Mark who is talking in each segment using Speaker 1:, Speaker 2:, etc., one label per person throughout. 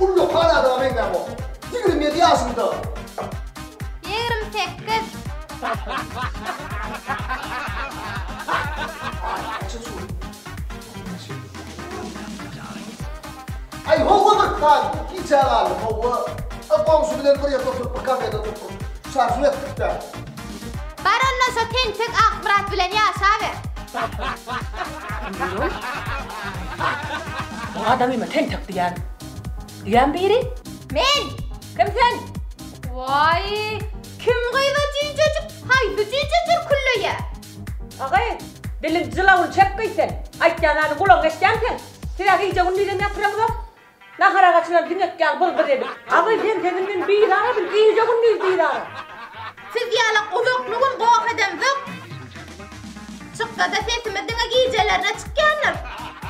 Speaker 1: Ullakan adama meňzäp ol. Ýigrimi ýedi ýaşynda. Ýigrimi sekiz. Aý howwa bir sag gijä galdy howwa. Goňşy bilen bir ýerde oturyp bir kafede otyrdyk. Şarpym etdik-de. Bar onda şo tentek Akmyrat bilen ýaşaber. Bu adamymy tentek diýýän. Diýýän biri? Men! Kim sen? Waý, kim gyza jüýjejik, haýsy jüýjedir külleýä? Agy, diliň jylawuny çekgeý sen. Aýtýan zady gulagyňa eşdýämi sen? Siz-ä gije-gündiz hem ýatyraňyzok. Nahar agaçyna düňek ýaly byr-byr edip. Abaý sen sesinden bizara bil, gije-gündiz didara. Siz ýaly gulakly gün goh edemzok. Çyksa-da sesimiz diňe gijelerine çykýandyr.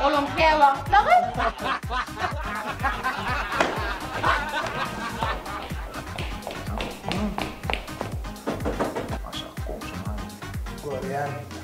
Speaker 1: Olam käwagtlagy. Aşak goňşym aýdym. Görýän.